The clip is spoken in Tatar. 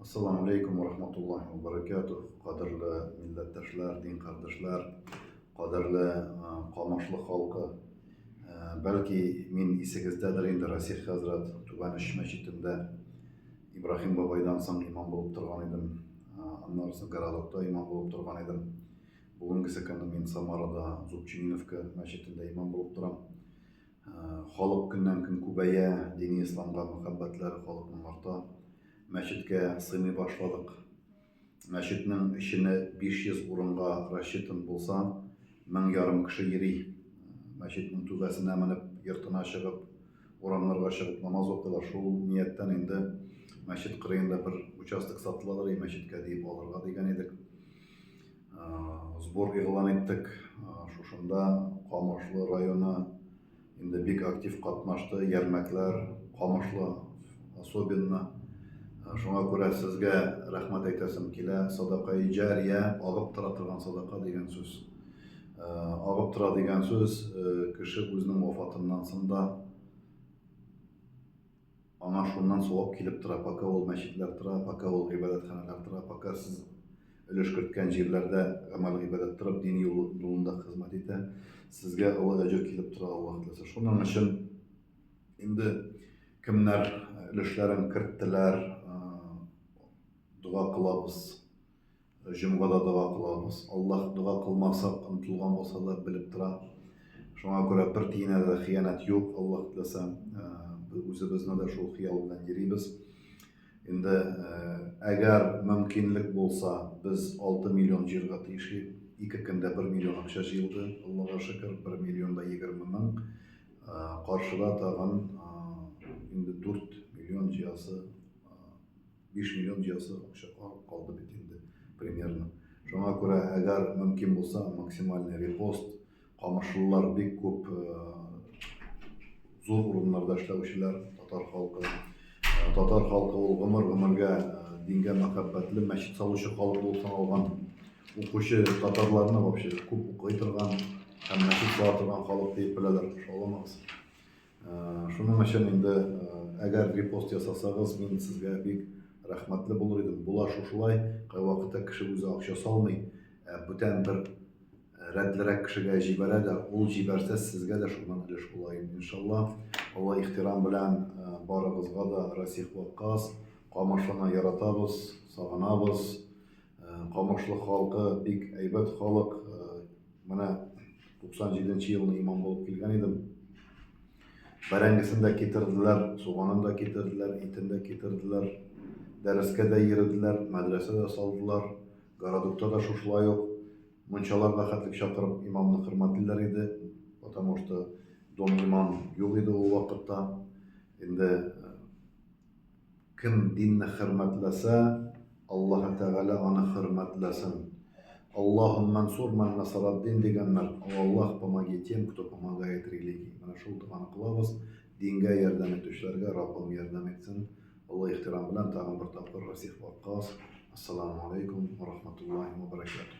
Ассаламу алейкум ва рахматуллахи ва баракатух. Кадерле милләттәшләр, дин кардәшләр, кадерле Камашлы халкы. Бәлки мин исегездәдер инде Расих хәзрәт Түбән Өч мәчетендә Ибраһим бабайдан соң имам булып торган идем. Аннары соң Городокта имам булып торган идем. Бүгенгесе көнне мин Самарада Зубчининовка мәчетендә имам булып торам. Халык көннән-көн күбәя, дини исламга мәхәббәтләре халыкның арта. Мәчеткә сыймый башладык. Мәчетнең эчене 500 урынга рассчитан булса, мең ярым кеше йөри. Мәчетнең түбәсенә менеп, йортына чыгып, урамнарга чыгып намаз укыйлар. Шул нияттән инде мәчет кырыенда бер участок сатыладыр и мәчеткә диеп алырга дигән идек. Сбор игълан иттек. Шушында Камышлы районы инде бик актив катнашты, ярмәкләр, Камышлы особенно. Шуңа күрә сезгә рәхмәт әйтәсем килә. Садакаи җария, агып тора торган садака дигән сүз. Агып тора дигән сүз, кеше үзенең вафатыннан соң да, Аңа шуннан савап килеп тора, пока ул мәчетләр тора, пока ул гыйбадәтханәләр тора, пока сез өлеш керткән җирләрдә гамәл-гыйбадәт торып, дин юлында хезмәт итә, сезгә олы әҗер килеп тора, Аллаһ теләсә. Шуның өчен инде кемнәр өлешләрен керттеләр, дога кылабыз. Җомгада дога кылабыз. Аллаһ дога кылмаксак онытылган булса да белеп тора. Шуңа күрә бер тиенә дә хыянәт юк, Аллаһ теләсә. Үзебезне дә шул хыял белән йөрибез. Инде әгәр мөмкинлек булса, без 6 миллион җыярга тиеш идек. Ике көндә 1 миллион акча җыелды, Аллага шөкер, 1 миллион да 20 мең. Каршыда тагын инде 4 миллион җыясы 5 миллион җыясы акча калды бит инде примерно. Шуңа күрә, әгәр мөмкин булса, максимальный репост, камышлылар бик күп зур урыннарда эшләүчеләр, татар халкы. Татар халкы ул гомер-гомергә дингә мәхәббәтле, мәчет салучы халык булып саналган. Укучы татарларны вообще күп укый торган һәм мәчет сала торган халык дип беләләр. Шаламагыз. Шуның өчен инде әгәр репост ясасагыз, мин сезгә бик рәхмәтле булыр идем. Була шушылай, кайвакытта кеше үзе акча салмый, ә бүтән бер рәтлерәк кешегә җибәрә дә, ул җибәрсә, сезгә дә шуннан өлеш була инде, иншалла. Олы ихтирам белән барыгызга да Расих Ваккас, Камышлыны яратабыз, сагынабыз. Камышлы халкы бик әйбәт халык. Менә 97 нче елны имам булып килгән идем. Бәрәңгесен дә китерделәр, суганын да китерделәр, итен дә китерделәр. Дәрескә дә йөрделәр, мәдрәсә дә салдылар. Городокта да шушылай ук мунчаларга хәтлек чакырып имамны хөрмәтлиләр иде, потому что дом имам юк иде ул вакытта. Инде Кем динне хөрмәтләсә, Аллаһы Тәгалә аны хөрмәтләсен. Аллаһу мәнсур мән насараддин дигәннәр, О Аллаһ, помоги тем, кто помогает религии. Менә шул доганы кылабыз, дингә ярдәм итүчеләргә Раббым ярдәм итсен. Олы ихтирам белән тагын бер тапкыр Расих Ваккас. Ассаламу алейкум ва рахматуллахи ва баракатуһ.